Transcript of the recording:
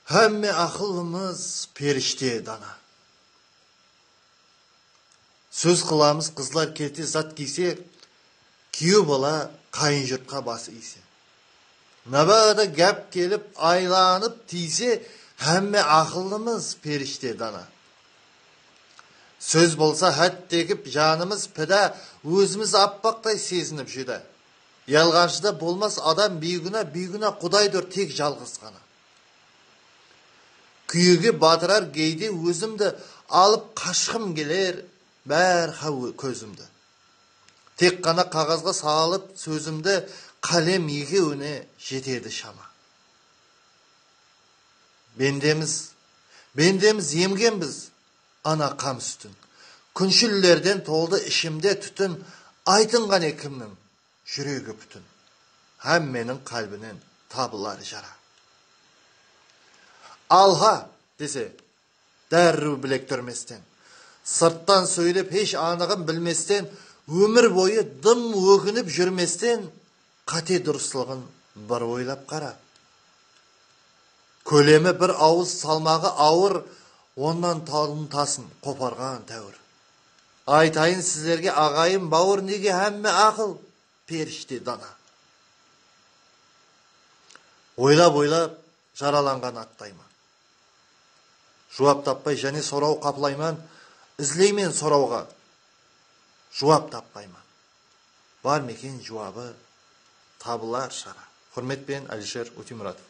Hámme aqıllımız perishte dana. Sóz qılamız qızlar kete zat kiyse, kúyew bala qayın jurtqa bas iyse. Mábáda gáp kelip aylanıp tiyse, hámme aqıllımız perishte dana. Sóz bolsa hát degip janımız pidá, ózimiz appaqtay sezinip júdá. Yalǵanshıda bolmas adam biygúna, biygúna qudaydur tek jalǵız ǵana. Kúyege batırar geyde ózimdi, alıp qashqım keler bárha kózimdi. Tek ǵana qaǵazǵa salıp sózimdi, qálem ekewine jetedi shama. Bendemiz, bendemiz, emgenbiz. Ana qan sútin. Kúnshillerden toldı ishimde tútin Aytın qáne kimniń júregi pútin Hámmeniń qálbinen tabılar jara Alha! dese, dárriw bilek túrmesten Sırttan sóylep hesh anıǵın bilmesten Ómir boyı dım óginip júrmesten Qáte durıslıǵın bir oylap qara. Kólemi bir awız, salmaǵı awır onnan talım tasın qoparǵan táwir. Aytayın sizlerge aǵayın bawır nege hámme aqıl perishte dana. Oylap oylap jaralanǵan attayman. Juwap tappay jáne soraw qaplayman, izleymen sorawǵa juwap tappayman. Bar meken juwabı tabılar shara. Xurmet penen Alisher Ótemuratov.